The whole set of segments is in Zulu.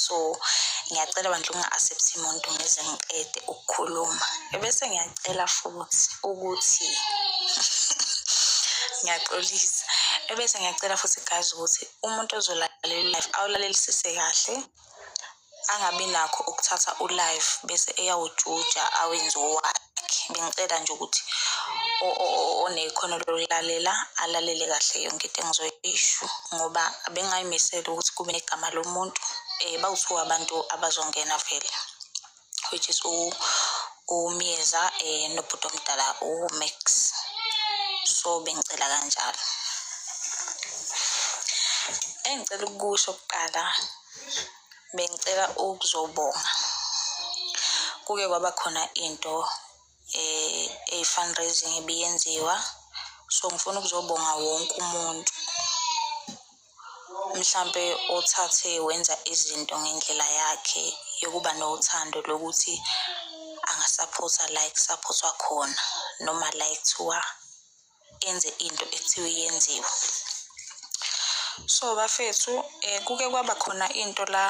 so ngiyacela bandla unga-accept muntu ngize ngiqede ukukhuluma ebese ngiyacela futhi ukuthi ngiyaxolisa ebese ngiyacela futhi guys ukuthi umuntu ozolalela i-life awulalelisise kahle angabi nakho ukuthatha u-life bese eyawujuja awenze owakhe bengicela nje ukuthi onekhono lokulalela alalele kahle yonke into engizoyisho ngoba bengayimisela ukuthi kube negama lomuntu um bawuthiwa abantu abazongena vele which is umyeza um eh, nobhuti omdala umax so bengicela kanjalo engicela ukukusho kuqala bengicela ukuzobonga kuke kwaba khona into eh i-fundraising ibiyenziwa so ngifuna ukuzobonga wonke umuntu mhlampe othathe wenza izinto ngendlela yakhe yokuba nothando lokuthi angasaphotha la ekusaphothwa khona noma la ekuthiwa enze into ekuthiwa yenziwe so bafethu um kuke kwaba khona into la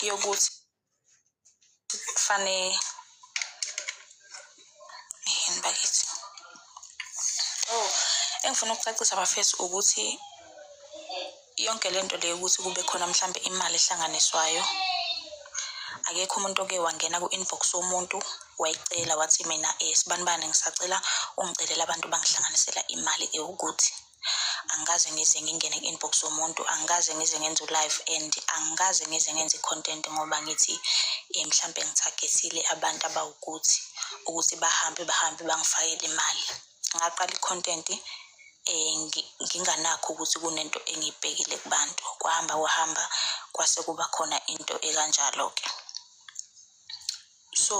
yokuthi kufane yini bakithi oh engifuna ukucacisa bafethu ukuthi yonke le nto leyo ukuthi kube khona mhlambe imali ehlanganiswayo akekho umuntu oke wangena ku-inbox womuntu wayicela wathi mina um sibanibani ngisacela ungicelela abantu bangihlanganisela imali ewukuthi angikaze ngize ngingene ku-inbox yomuntu angikaze ngize ngenze u-live and angikaze ngize ngenze i-content ngoba ngithi um mhlampe ngithagethile abantu abawukuthi ukuthi bahambe bahambe bangifakele imali ngaqala i-content um nginganakho ukuthi kunento engiyibhekile kubantu kwahamba kwahamba kwase kuba khona into ekanjalo-ke so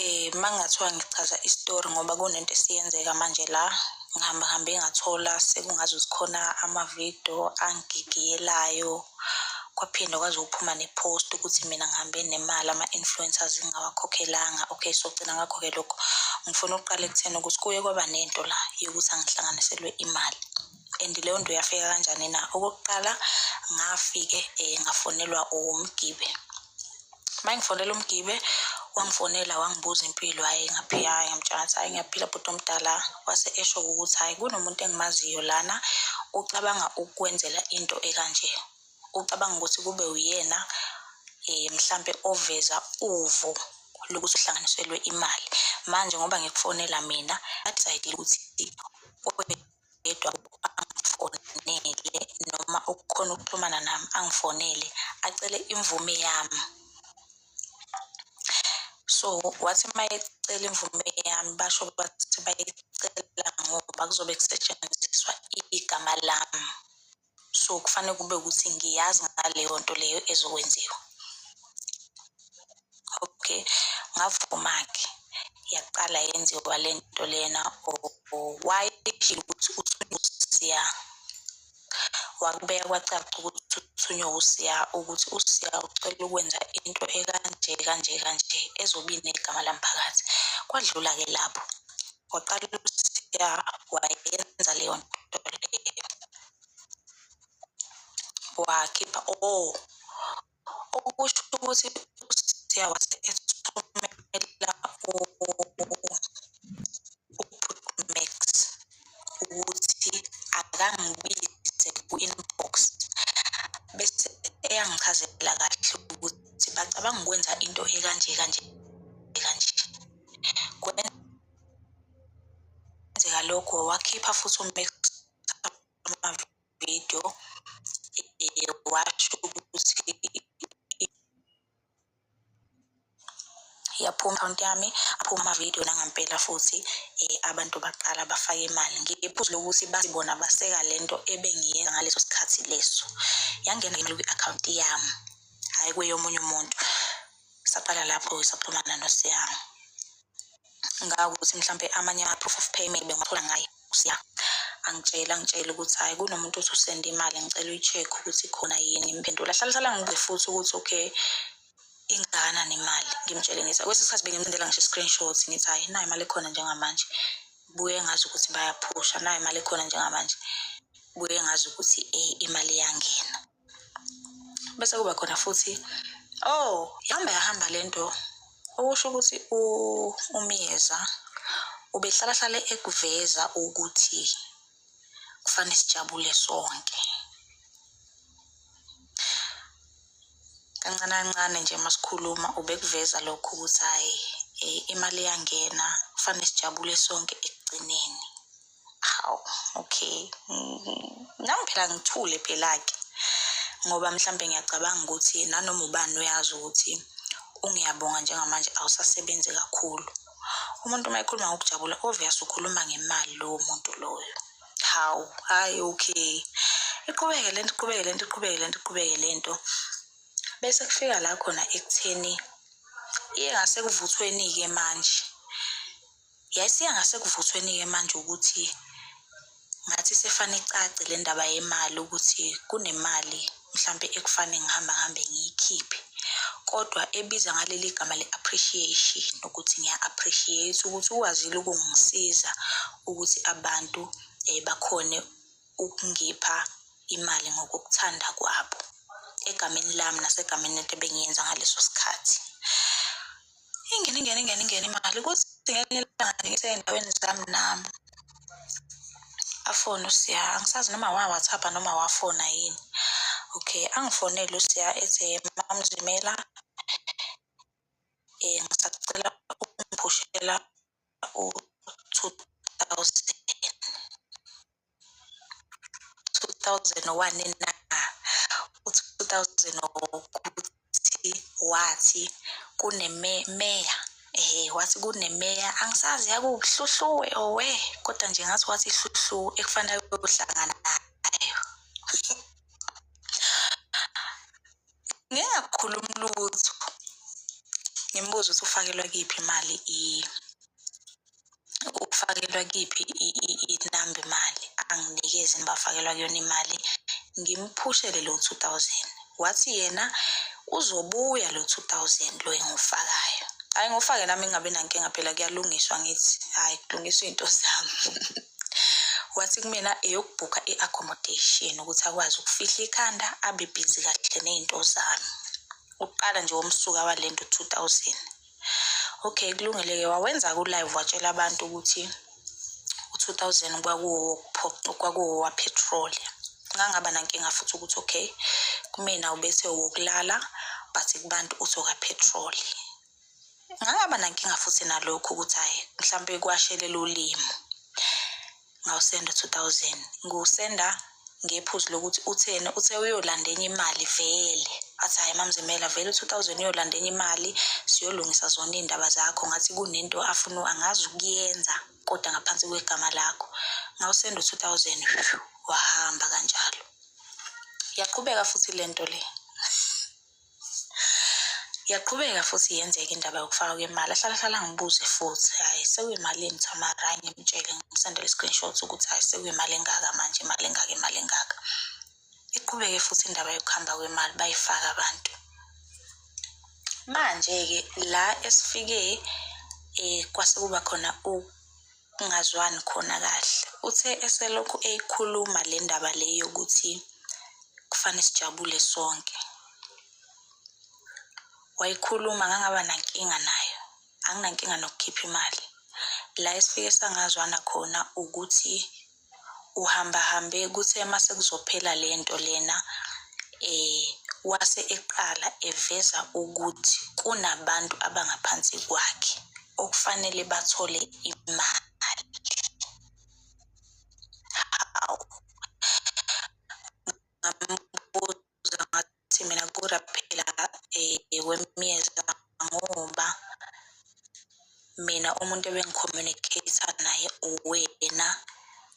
eh mangathiwa ngichaza istory ngoba kunento esiyenzeka manje la ngihamba hambe ngathola sekungaze zikhona amavidiyo angigigiyelayo kwaphinde kwaze uphuma nepost ukuthi mina ngihambe nemali ama-influencers ngingawakhokhelanga okay so gcina ngakho-ke lokho ngifuna ukuqala ekutheni ukuthi kuye kwaba nento la yokuthi angihlanganiselwe imali and leyo nto yafika kanjani na okokuqala ngafike um ngafonelwa umgibe uma ngifonela umgibe wangifonela wangibuza impilo hhayi ngaphika hhayi ngamtshela ngathi hhayi ngiyaphila bhuti omdala wase esho ukuthi hhayi kunomuntu engimaziyo lana ucabanga ukukwenzela into ekanje ucabanga ukuthi kube uyena um mhlampe oveza uvo lokuthi uhlanganiselwe imali manje ngoba ngikufonela mina adecide ukuthi yedwa angifonele noma ukukhona ukuxhumana nami angifonele acele imvume yami so wathi uma ecela imvume yami basho bathi bayicela ngoba kuzobe kusetshenziswa igama lami so kufanele kube ukuthi ngiyazi ngaleyo nto leyo ezokwenziwa okay ngavuma-ke yaqala yenziwa le nto lena why ukuthi usiya wakubeka kwacaca ukuthi uthunywe usiya ukuthi usiya ucela ukwenza into ekanje kanje kanje ezobi negama lamphakathi kwadlula-ke lapho waqala usiya wayenza leyo nto leyo wakhipha o oh, okusho ukuthi usiya wase ethumela umax ukuthi akangibize ku-inbox bese eyangichazela kahle ukuthi bacabanga ukwenza into ekanje kanje Kwenzeka lokho wakhipha futhi amavidiyo washo ukuthi yaphuma account yami aphuma amavidiyo nangampela futhi um abantu baqala bafake imali ngiphuzu lokuthi bathi bona baseka le nto ebengiyenza ngaleso sikhathi leso yangena kwi-akhawunti yami hhayi kweyomunye umuntu saqala lapho saxhumana nosiyanga ngakuthi mhlampe amanye ama-proof of payment bengathola ngaye usiya angitshela angitshela ukuthi hhayi kunomuntu othi usende imali ngicela uyi-check ukuthi khona yini impendula hlala hlala ngibuze futhi ukuthi okay ingana nemali ngimtshele ngithi kwesinye isikhathi bengimcindela ngisho i-screenshot ngithi hhayi nayo imali ekhona njengamanje buye ngazi ukuthi bayaphusha nayo imali ekhona njengamanje buye ngazi ukuthi imali iyangena bese kuba khona futhi oh yahamba yahamba le nto okusho ukuthi umyeza ubehlalahlale ekuveza ukuthi kufanele sijabule sonke kancane kancane nje masikhuluma ubekuveza lokho ukuthi hhayi eh, imali iyangena kufanele sijabule sonke ekugcineni hawu okay nami phela ngithule phela-ke ngoba mhlawumbe ngiyacabanga ukuthi nanoma ubani uyazi ukuthi ungiyabonga njengamanje awusasebenzi kakhulu umuntu uma ekhuluma ngokujabula obvious ukhuluma ngemali lowo muntu loyo hawu hhayi okay iqhubeke lento iqhubeke lento iqhubeke lento iqhubeke lento bese kufika la khona ekutheni iye ngasekuvuthweni-ke manje Yayisiya ngasekuvuthweni-ke manje ukuthi ngathi sefane icace le ndaba yemali ukuthi kunemali mhlampe ekufane ngihamba ngihambe ngiyikhiphe kodwa ebiza ngaleli gama le-appreciation ukuthi ngiya-appreciate ukuthi ukwazile ukungisiza ukuthi abantu um bakhone ukungipha imali ngokokuthanda kwabo egameni lami nasegameni lento ebengiyenza ngaleso sikhathi. ingene ingene ingene ingene imali ukuthi ngelinye ilanga ngisendaweni zami nami afone usiya angisazi noma wa-whatsapp noma wafona yini okay angifonele usiya ethi mamzimela um ngisacela ukungiphushela 2001 na u-2000 ukuthi wathi kunemeya eh wathi kunemeya angisazi yakuhluhluwe owe kodwa nje ngathi wathi ihluhluwe ekufanele kuhlangana ngingakhulumi lutho ngimbuze ukuthi ufakelwa kiphi imali i ufakelwa kiphi inamba imali anginikezi nibafakelwa kuyona imali ngimphushele lo 2000 wathi yena uzobuya lo 2000 lo engufakayo hayi ngufake nami ngingabi nankinga phela kuyalungiswa ngithi hayi kulungiswa izinto zami wathi kumina eyokubhukha i-accommodation ukuthi akwazi ukufihla ikhanda abe bhizi kahle ney'nto zami ukuqala nje womsuka wale nto 2000 okay kulungile-ke wawenza-ke ulive watshela abantu ukuthi u-2000 kwakuwowapetroli ngangaba nankinga futhi ukuthi okay kumina ubethe wokulala but kubantu uthi okapetroli ngangaba nankinga futhi nalokhu ukuthi hhayi mhlawumpe kwashelela ulimi ngawusenda two thousand ngiwusenda ngephuzu lokuthi utheni uthe uyolanda enye imali vele athi hhayi mamzimela vele u-two thousand uyolanda enye imali siyolungisa zona iy'ndaba zakho ngathi kunento afuna angazi ukuyenza kodwa ngaphansi kwegama lakho ngawusenda u-two thousand wahamba kanjalo yaqhubeka futhi le nto le Yaqhubeka futhi yenzeka indaba yokufakwa kwemali. Ahlala hlala angibuze futhi, hhayi sekuyimalini Tamara? Hhayi ngimtshele ngimsendele i-screenshot ukuthi hhayi sekuyimali engaka manje, imali engaka, imali engaka. Iqhubeke futhi indaba yokuhamba kwemali bayifaka abantu. Manje-ke la esifike um kwase kuba khona kungazwani khona kahle uthe eselokhu eyikhuluma le ndaba le yokuthi kufanele sijabule sonke wayikhuluma ngangaba nankinga nayo anginankinga nokukhipha imali la esifike sangazwana khona ukuthi uhambahambe kuthe uma sekuzophela le nto lena um wase eqala eveza ukuthi kunabantu abangaphansi kwakhe okufanele bathole imali ngibuza ngathi mina kura phela eh, wemyeza ngoba mina umuntu ebengicommunicate-a naye uwena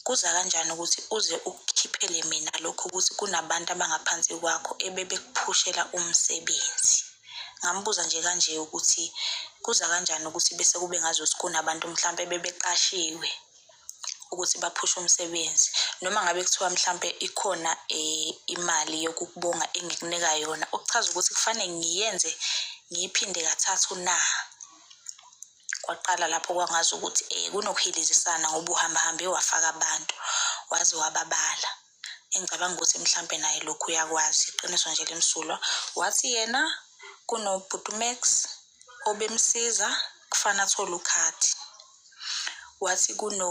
kuza kanjani ukuthi uze ukukhiphele mina lokho ukuthi kunabantu abangaphansi kwakho ebebekuphushela umsebenzi ngambuza nje kanje ukuthi kuza kanjani ukuthi bese kube ngazuthi kunabantu mhlawumpe bebeqashiwe ukuthi baphushe umsebenzi noma ngabe kuthiwa mhlampe ikhona eh, imali yokukubonga engikunika yona okuchaza ukuthi kufanele ngiyenze ngiyiphinde kathathu na kwaqala lapho kwangazi ukuthi um kunokuhilizisana ngoba uhambahambe wafaka abantu waze wababala engicabanga ukuthi mhlampe naye lokhu uyakwazi iqiniso nje limsulwa wathi yena kunobhutumax obemsiza kufana athole ukhadi wathi kuno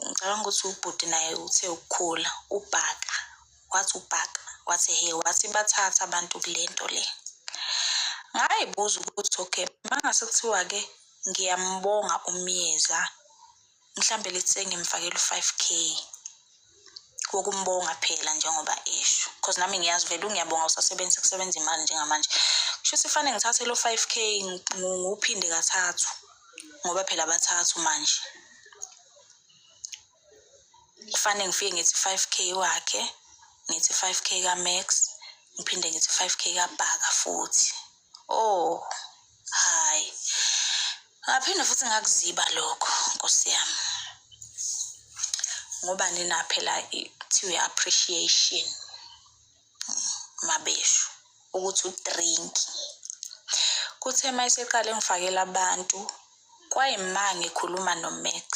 ngicabanga ukuthi ubhuti naye uthe ukukhula ubhaka wathi ubhaka wathi he wathi bathatha abantu kule nto le ngayibuza ukuthi okay mangase kuthiwa-ke ngiyambonga umyeza mhlambe let's say ngimfakela u-five k wokumbonga phela njengoba esho because nami ngiyazi vele ungiyabonga usasebenzisa kusebenza imali njengamanje kusho ukuthi fanele ngithathe lo five k ngiwuphinde kathathu ngoba phela bathathu manje kufanele ngifike ngithi five k wakhe ngithi five k ka-max ngiphinde ngithi five k kabhaka futhi Oh, hayi. Ngaphinde futhi ngakuziba lokho, Nkosi yami. Ngoba nina phela kuthiwe appreciation mabeshu ukuthi udrink. Kuthe uma eseqale ngifakela abantu kwayimanga ekhuluma noMax.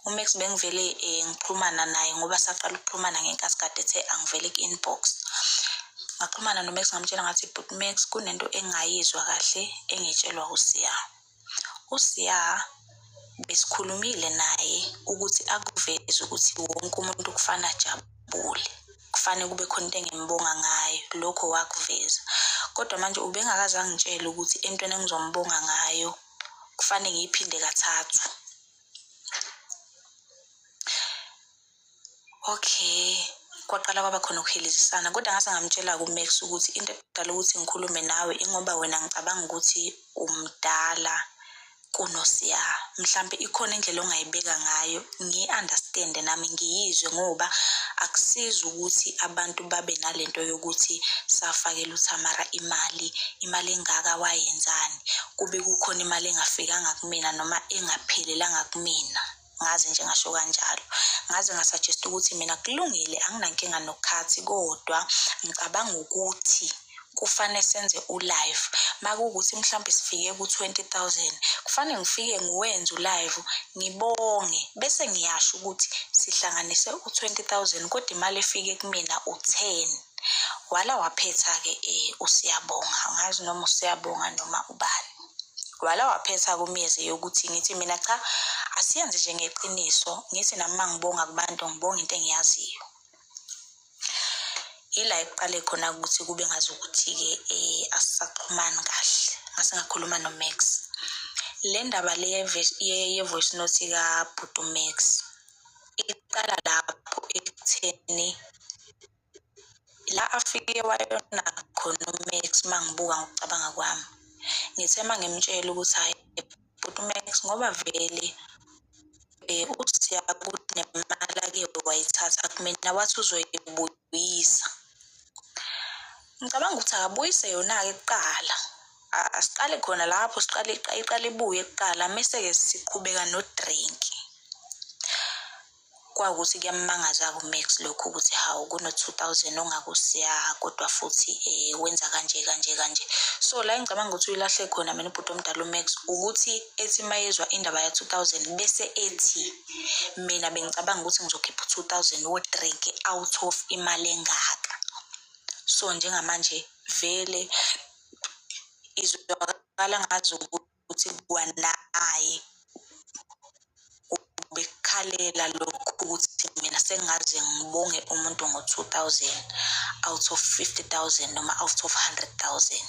uMax bengivele eh, ngikhulumana naye ngoba saqala ukuxhumana ngenkathi kade ethe angivele ku-inbox ngaxhumana noMax ngamtshela ngathi but Max kunento engayizwa kahle engitshelwa uSiya uSiya besikhulumile naye ukuthi akuveze ukuthi wonke umuntu kufana ajabule kufanele kube khona into engimbonga ngayo lokho wakuveza kodwa manje ubengakaze angitshele ukuthi entweni engizombonga ngayo kufanele ngiyiphinde kathathu okay kwaqala kwaba khona ukuhilizisana kodwa ngase ngamtshela kumax ukuthi into edala ukuthi ngikhulume nawe ingoba wena ngicabanga ukuthi umdala kunosiya mhlampe ikhona indlela ongayibeka ngayo ngiyi-understande nami ngiyizwe ngoba akusizi ukuthi abantu babe nalento yokuthi safakela uthamara imali imali engaka wayenzani kube kukhona imali engafikanga kumina noma engaphelelanga kumina ngaze nje ngasho kanjalo ngaze ngasuggest ukuthi mina kulungile anginankinga nokukhathi kodwa ngicabanga ukuthi kufanele senze ulive makuwukuthi mhlawumbe sifike ku-20000 kufanele ngifike ngiwenze ulive ngibonge bese ngiyasho ukuthi sihlanganise u-20000 kodwa imali efike kumina u-10 wala waphetha-ke um usiyabonga angazi noma usiyabonga noma ubani wala waphetha kumyeze yokuthi ngithi mina cha asiyenze nje ngeqiniso ngithi nami uma ngibonga kubantu ngibonga into engiyaziyo ila ekuqale khona ukuthi kube ngazi ukuthi-ke um eh, asisaxhumani kahle ngase ngakhuluma nomax le ndaba le ye-voice note kabhuti umax iqala lapho ekutheni la afike wayona khona uMax mangibuka ngokucabanga kwami ngithe mangimtshela ukuthi hayi bhuti uMax ngoba vele eh usiya kuthi nemali ake wayithatha kumina wathi uzoyibuyisa ngicabanga ukuthi akabuyise yona-ke kuqala asiqale khona lapho siqale iqale ibuye kuqala mese-ke siqhubeka nodrink kwawukuthi kuyammangaza kuMax lokhu ukuthi hawu kuno-2000 ongakusiya kodwa futhi um wenza kanje kanje kanje so la engicabanga ukuthi uyilahle khona mina ubhuti omdala uMax ukuthi ethi uma yezwa indaba ya-2000 bese ethi mina bengicabanga ukuthi ngizokhipha u-2000 wodrink out of imali engaka so njengamanje vele izwakala ngazi ukuthi ukuthi kwanaye ubekhalela lokhu ukuthi mina sengaze ngibonge umuntu ngo-two thousand out of fifty thousand noma out of hundred thousand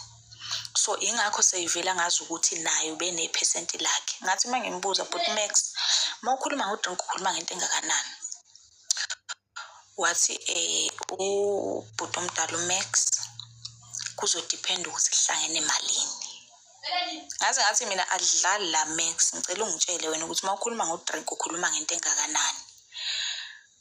so ingakho seyivela ngazi ukuthi naye ubenephesenti lakhe ngathi uma ngimbuza but max uma ukhuluma ngodrink ukhuluma ngento engakanani wathi um ubhuti omdala umax kuzodiphenda ukuthi kuhlangene emalini ngaze ngathi mina adlali la max ngicela ungitshele wena ukuthi uma ukhuluma ngodrink ukhuluma ngento engakanani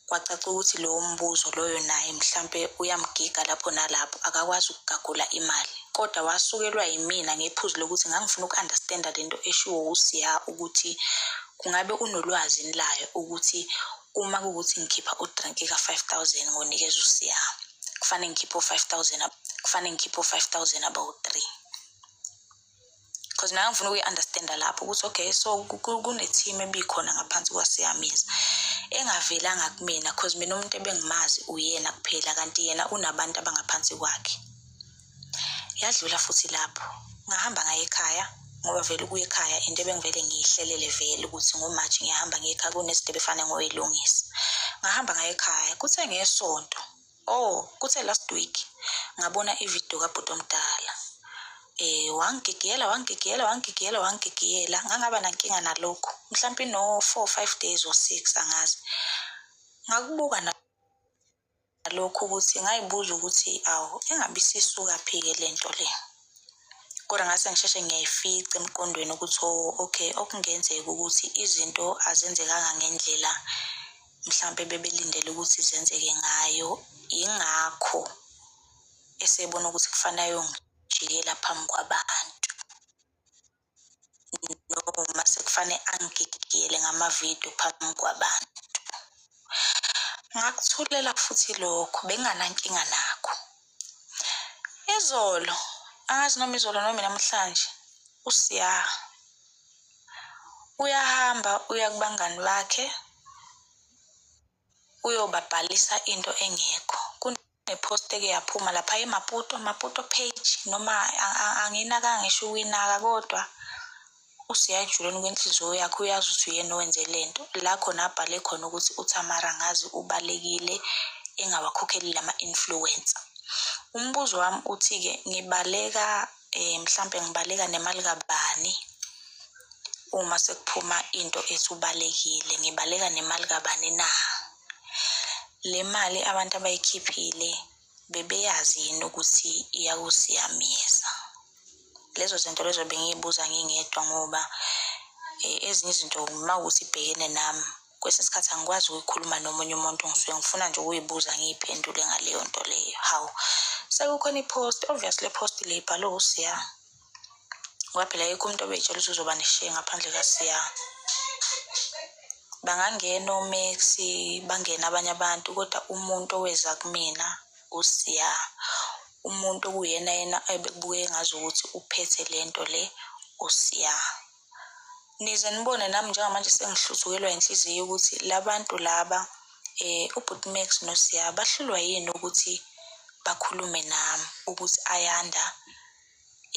kwacaca ukuthi lowo mbuzo loyo naye mhlampe uyamgiga lapho nalapho akakwazi ukugagula imali kodwa wasukelwa yimina ngephuzu lokuthi ngangifuna uku-understanda le nto eshiwo usiya ukuthi kungabe unolwazi layo ukuthi Uma kuwukuthi ngikhipha udranki ka-five thousand ngonikeza usiya kufanele ngikhiphe u-five thousand kufanele ngikhiphe u-five thousand abawu-three because mina ngifuna ukuyi-understanda lapho ukuthi okay so kune-team ebikhona ngaphansi kwasiyamiza engavelanga kumina because mina umuntu ebengimazi uyena kuphela kanti yena unabantu abangaphansi kwakhe yadlula futhi lapho ngahamba ngaye ekhaya ngoba vele ukuya ekhaya into ebengivele ngiyihlelele vele ukuthi ngomaji ngiyahamba ngiye ekhaya kunezinto ebefane ngoyilungisa ngahamba ngaye ekhaya kuthe ngesonto oh kuthe last week ngabona ividiyo kabhuti omdala eh wangigigiyela wangigigiyela wangigigiyela wangigigiyela ngangaba nankinga nalokho mhlawumbe no-four five days or six angazi ngakubuka na nalokho ukuthi ngayibuza ukuthi awu engabe isisukaphi-ke le nto le kodwa ngase ngisheshe ngiyayifica emqondweni ukuthi o oh, okay okungenzeka ukuthi izinto azenzekanga ngendlela mhlawumpe bebelindele ukuthi zenzeke ngayo yingakho esebona ukuthi kufanele ayongijikela phambi kwabantu noma sekufanele angigigiyele ngamavidiyo phambi kwabantu ngakuthulela futhi lokho benginganankinga nakho izolo angazi noma izolo noma namhlanje usiya uyahamba uya kubangani bakhe uyobabhalisa into engekho kunepost eke yaphuma lapha emaputo maputo page noma anginaka ngisho ukwinaka kodwa usiyajuleni kwenhliziyo yakhe uyazi ukuthi uyena owenze le nto la khona abhale khona ukuthi uthamara ngazi ubalekile engawakhokheli lama-influencer umbuzo wami uthi-ke ngibaleka eh mhlambe ngibaleka nemali kabani uma sekuphuma into esubalekile ngibaleka nemali kabani na le mali abantu abayikhiphile bebeyazi yini ukuthi iyakusiyamisa lezo zinto lezo bengiyibuza ngingedwa ngoba eh, ezinye izinto uma ukuthi ibhekene nami kwesinye isikhathi angikwazi ukuyikhuluma nomunye umuntu ngisuke ngifuna nje ukuyibuza ngiyiphendule ngaleyo nto leyo hawu sekukhona i-post obviously i-post le ibhalwe usiya ngoba phela yikho umuntu obeyitshela ukuthi uzoba neshiye ngaphandle kasiya bangangena omax bangena abanye abantu kodwa umuntu oweza kumina usiya umuntu okuyena yena ebekubuke ngazi ukuthi uphethe le nto le usiya Nize nibone nami njengamanje sengihluthukelwa inhliziyo ukuthi labantu laba eh ubhuti Max noSiya bahlulwa yini ukuthi bakhulume nami ukuthi ayanda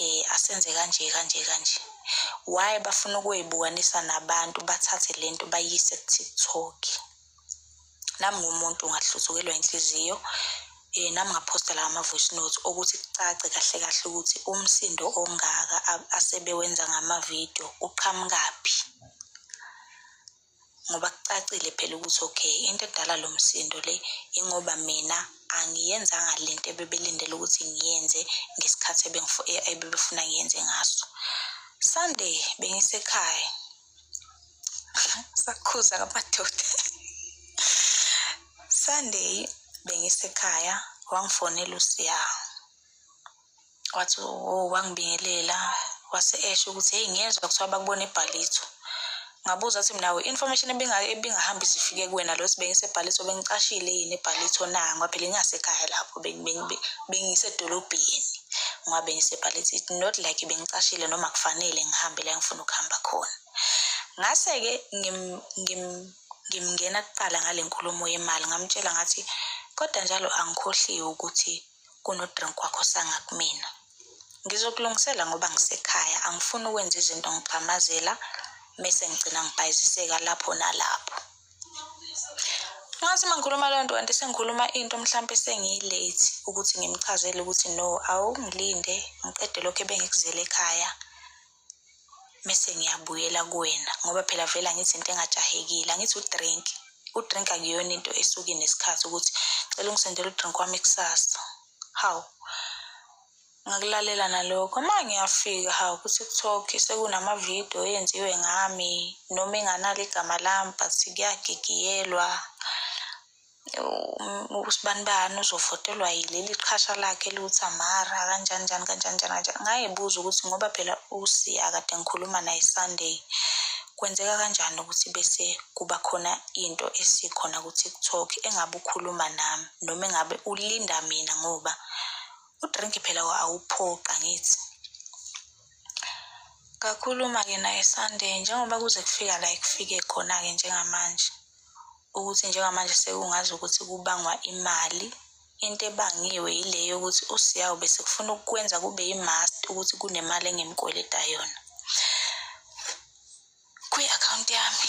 eh asenze kanje kanje kanje why bafuna ukuyibukanisa nabantu bathathe lento bayise ku-TikTok. nami ngumuntu ngahluzukelwa inhliziyo eh nami ngaphosta la ama voice notes ukuthi kucace kahle kahle ukuthi umsindo ongaka asebewenza ngama video uqhamukaphi ngoba kucacile phela ukuthi okay into edala lo msindo le ingoba mina angiyenzanga le nto ebebelindele ukuthi ngiyenze ngesikhathi ebebefuna ngiyenze ngaso sunday bengisekhaya sakhuza kamadoda sunday bengisekhaya wangifonela usiya wathi oh wangibingelela wase esho ukuthi hey ngiyezwa kuthiwa bakubona ebhalitho ngabuza ukuthi mina information ebingahambi zifike kuwena lo sibengise ebhalitho bengicashile yini ebhalitho na ngoba phela ingasekhaya lapho bengisedolobheni ngoba bengisebhalithi not like bengicashile noma kufanele ngihambe la ngifuna ukuhamba khona ngase-ke ngimngena kuqala ngale nkulumo yemali ngamtshela ngathi kodwa njalo angikhohliwe ukuthi kunodrink wakho sanga kumina ngizokulungisela ngoba ngisekhaya angifuni ukwenza izinto ngigxamazela mese ngigcina ngibhayiziseka lapho nalapho Ngathi uma ngikhuluma loo nto kanti sengikhuluma into mhlawumpe sengiyi-late ukuthi ngimchazele ukuthi no awungilinde ngiqede lokho ebengikuzele ekhaya mese ngiyabuyela kuwena ngoba phela vele angithi into engajahekile angithi udrink udrink akuyona into esuke nesikhathi ukuthi cela ungisendele udrink wami kusasa hawu Ngakulalela nalokho. Uma ngiyafika hawu ku-TikTok sekunama-video enziwe ngami noma enganalo igama lami but kuyagigiyelwa. U- Usibani bani uzovotelwa yileli qhasha lakhe eliwuthi amara kanjani njani kanjani njani kanjani. Ngayibuza ukuthi ngoba phela uSiya kade ngikhuluma naye Sunday kwenzeka kanjani ukuthi bese kuba khona into esikhona ku-TikTok engabe ukhuluma nami noma engabe ulinda mina ngoba udrink phela awuphoqa ngithi kakhuluma-ke naye sunday njengoba kuze kufika la ekufike khona-ke njengamanje ukuthi njengamanje sekungazi ukuthi kubangwa imali into ebangiwe yile yokuthi usiyawu bese kufuna ukukwenza kube yi-must ukuthi kunemali engemkweleta yona kwi-akhawunti yami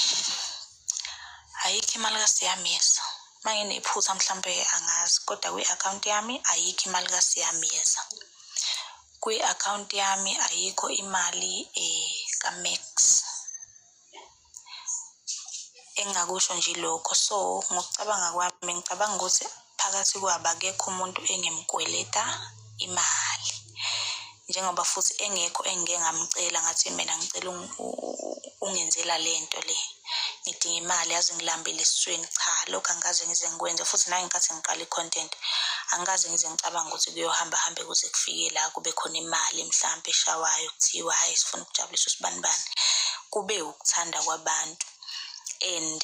ayikho imali kasiyamiyeza uma nginephutha mhlawumpe angazi kodwa kwi-akhawunti yami ayikho imali kasiyamiyeza kwi-akhawunti yami ayikho imali um kamax engingakusho nje lokho so ngokucabanga kwami ngicabanga ukuthi Phakathi kwabo akekho umuntu engimkweleta imali njengoba futhi engekho engike ngamcela ngathi mina ngicela ungenzela le nto le ngidinga imali yazi ngilambile esiswini cha lokhu angikaze ngize ngikwenze futhi nangenkathi ngiqala i-content angikaze ngize ngicabanga ukuthi kuyohamba hambe kuze kufike la kube khona imali mhlawumpe eshawayo kuthiwa hhayi sifuna ukujabulisa usibanibani kube ukuthanda kwabantu and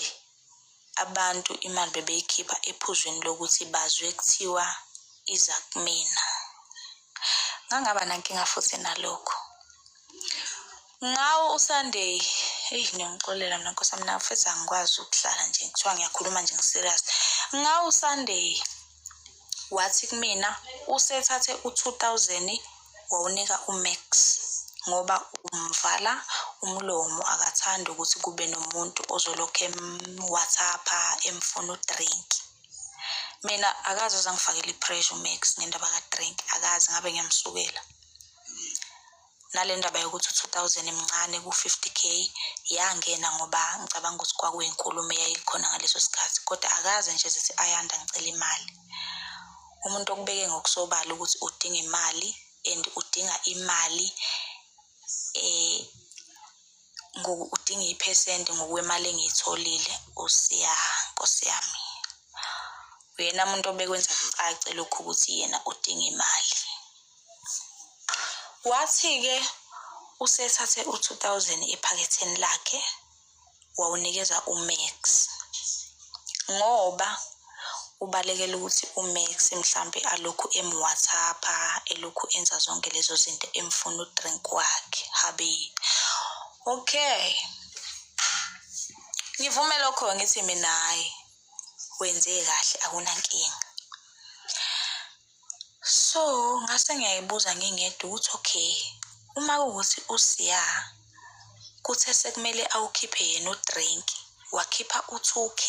abantu imali bebeyikhipha ephuzwini lokuthi bazwe kuthiwa iza kumina ngangaba nankinga futhi nalokho ngawo usunday eyi ngiyangixolela mina nkosi yami nafethu angikwazi ukuhlala nje kuthiwa ngiyakhuluma nje ngiserious ngawo usunday wathi kumina usethathe u-2000 wawunika umax ngoba umvala umlomo akathandi ukuthi kube nomuntu ozolokhu emwhatsapha emfuna udrink mina akaze zangifakela i-pressure umax ngendaba kadrink akaze ngabe ngiyamsukela nale ndaba yokuthi u-two thousand mncane ku-fifty k yangena ngoba ngicabanga ukuthi kwakuyinkulumo eyayikhona ngaleso sikhathi kodwa akaze nje zithi ayanda ngicela imali umuntu okubeke ngokusobala ukuthi udinga imali and udinga imali eh udinga iphesenti ngokwemali engiyitholile usiya nkosi yami uyena muntu obekwenza kucace lokhu ukuthi yena udinga imali Wathi-ke usethathe u-2000 ephaketheni lakhe wawunikeza uMax ngoba ubalekela ukuthi uMax mhlampe alokhu emwhatsapha elokhu enza zonke lezo zinto emfuna udrink wakhe habe okay ngivume lokho ngithi mina hayi wenze kahle akunankinga So ngase ngiyayibuza ngingedwa ukuthi okay uma kuwukuthi uSiya kuthe sekumele awukhiphe yena udrink wakhipha u-2k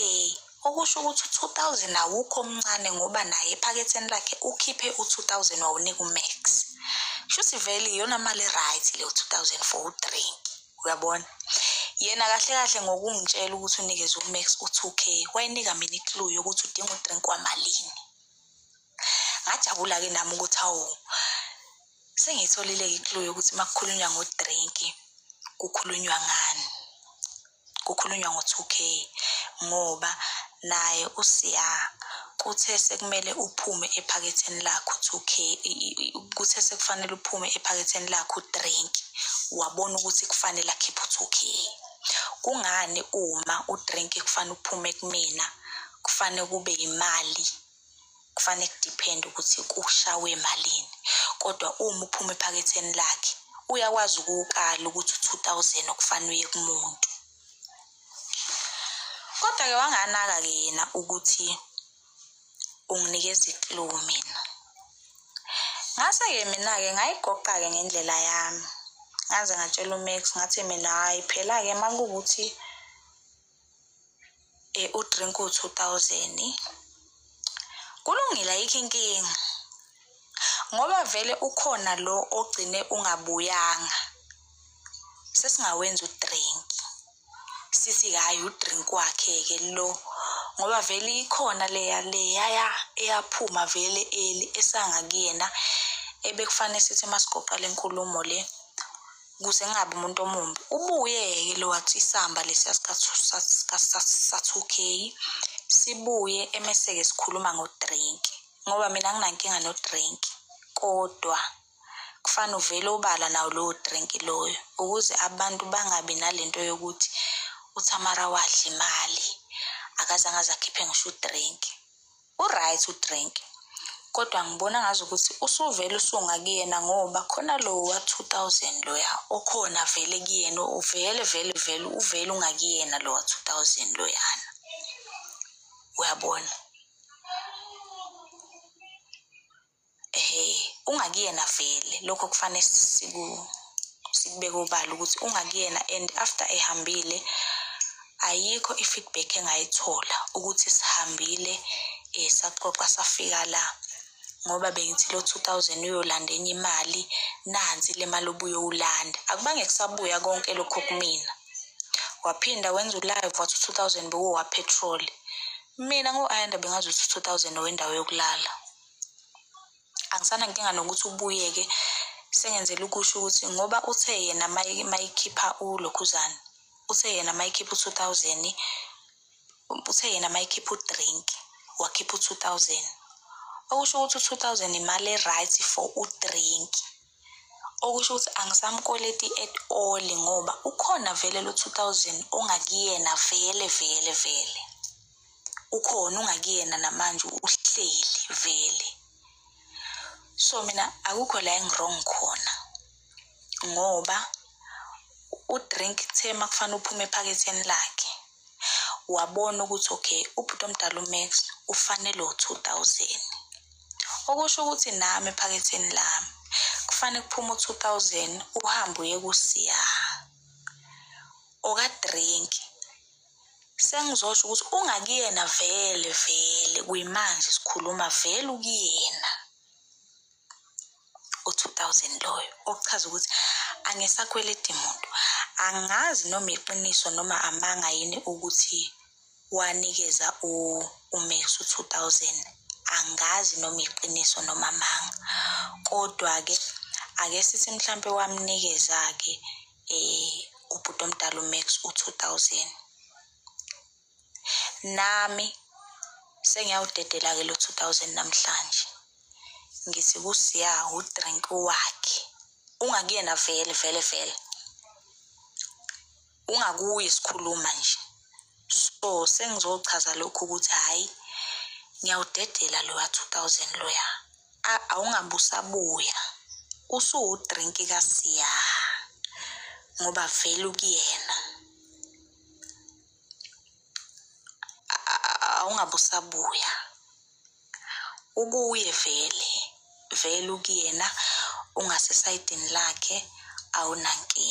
okusho ukuthi u-2000 awukho omncane ngoba naye ephaketheni lakhe ukhiphe u-2000 wawunika umax shuthi vele iyona mali e-right leyo 2000 for udrink uyabona yena kahle kahle ngokungitshela ukuthi unikeze umax u-2k wayinika mina iklu yokuthi udinga udrink wamalini ngajabula-ke nami ukuthi awu sengiyitholile iklu yokuthi uma kukhulunywa ngodrinki kukhulunywa ngani kukhulunywa ngo-two k ngoba naye usiya kuthe sekumele uphume ephaketheni lakho two k kuthe sekufanele uphume ephaketheni lakho udrinki wabona ukuthi kufanele akhiphe u-two k kungani uma udrinki kufanele uphume kumina kufanele kube imali kufanele kudiphende ukuthi kushawe malini kodwa uma uphuma ephaketheni lakhe uyakwazi ukuwukala ukuthi u-two thousand okufanele uye kumuntu kodwa-ke wanganaka-ke yena ukuthi unginikeza iklow mina ngase-ke mina-ke ngayigoqa-ke ngendlela yami ngaze ngatshela umax ngathi mina hhayi phela-ke uma kuwukuthi e u drink u 2000 kulungile ayikho inkinga ngoba vele ukhona lo ogcine ungabuyanga sesingawenza udrink sithi hayi udrink wakhe ke lo ngoba vele ikhona leya leya eyaphuma vele eli esanga kuyena ebekufanele sithi masigoqa lenkulumo le ukuze ngingabi umuntu omumbi ubuye-ke lo wathi isamba lesiya sa-two k sibuye emese-ke sikhuluma ngo-drink ngoba mina nginankinga no-drink kodwa kufane uvele obala nawo lowo drink loyo ukuze abantu bangabi nalento yokuthi uthamara wadla imali akazange azakhiphe ngisho udrink Uright udrink kodwa ngibona ngazi ukuthi usuvele usunga kuyena ngoba khona lo wa-2000 loya okhona vele kuyena uvele vele vele uvele ungakuyena lo wa-2000 loyana uyabona Ehhe, ungakuyena vele lokho kufanele siku sikubeke obala ukuthi ungakuyena and after ehambile ayikho i-feedback engayithola ukuthi sihambile um saxoxa safika la ngoba bengithi lo two thousand uyolanda enye imali nansi le mali obuyowulanda akubange kusabuya konke lokho kumina waphinda wenza ulive wathi u-two thousand bekuwowapetroli mina ngo-ayanda bengazi ukuthi u-two thousand owendawo yokulala angisana nkinga nokuthi ubuyeke sengenzela ukusho ukuthi ngoba uthe yena mayikhipha ulokhuzana uthe yena mayikhipha u-two thousand uthe yena mayikhipha udrink wakhipha u-two thousand okusho ukuthi u-two thousand imali e-right for udrink okusho ukuthi angisamkweleti at all ngoba ukhona vele lo-two thousand ongakuyena vele vele vele ukhona ungakuyena namanje uhleli vele so mina akukho la engirong khona ngoba udrink kuthe uma kufanele uphume ephaketheni lakhe wabona ukuthi okay ubhuti omdala umax ufanele u-two thousand okusho ukuthi nami ephaketheni lami kufanele kuphume u-two thousand uhambe uye kusiya okadrink Sengizosho ukuthi ungakuyena vele vele kuyimanje sikhuluma vele ukuyena u-2000 loyo okuchaza ukuthi angisakweledi muntu angazi noma iqiniso noma amanga yini ukuthi wanikeza umax u-2000 angazi noma iqiniso noma amanga kodwa-ke ake sithi mhlampe wamnikeza-ke eh ubhuti omdala uMax u2000 nami sengiyawudedela ke lo 2000 namhlanje ngithi kusiya udrink wakhe ungakuyena vele vele vele ungakuye sikhuluma nje So sengizochaza lokhu ukuthi hhayi ngiyawudedela loya 2000 loya A- awungabe usabuya usuwudrinki kasiya ngoba vele ukuyena A- a- awungabe usabuya ukuye vele vele ukuyena ungasesayidini lakhe awunankinga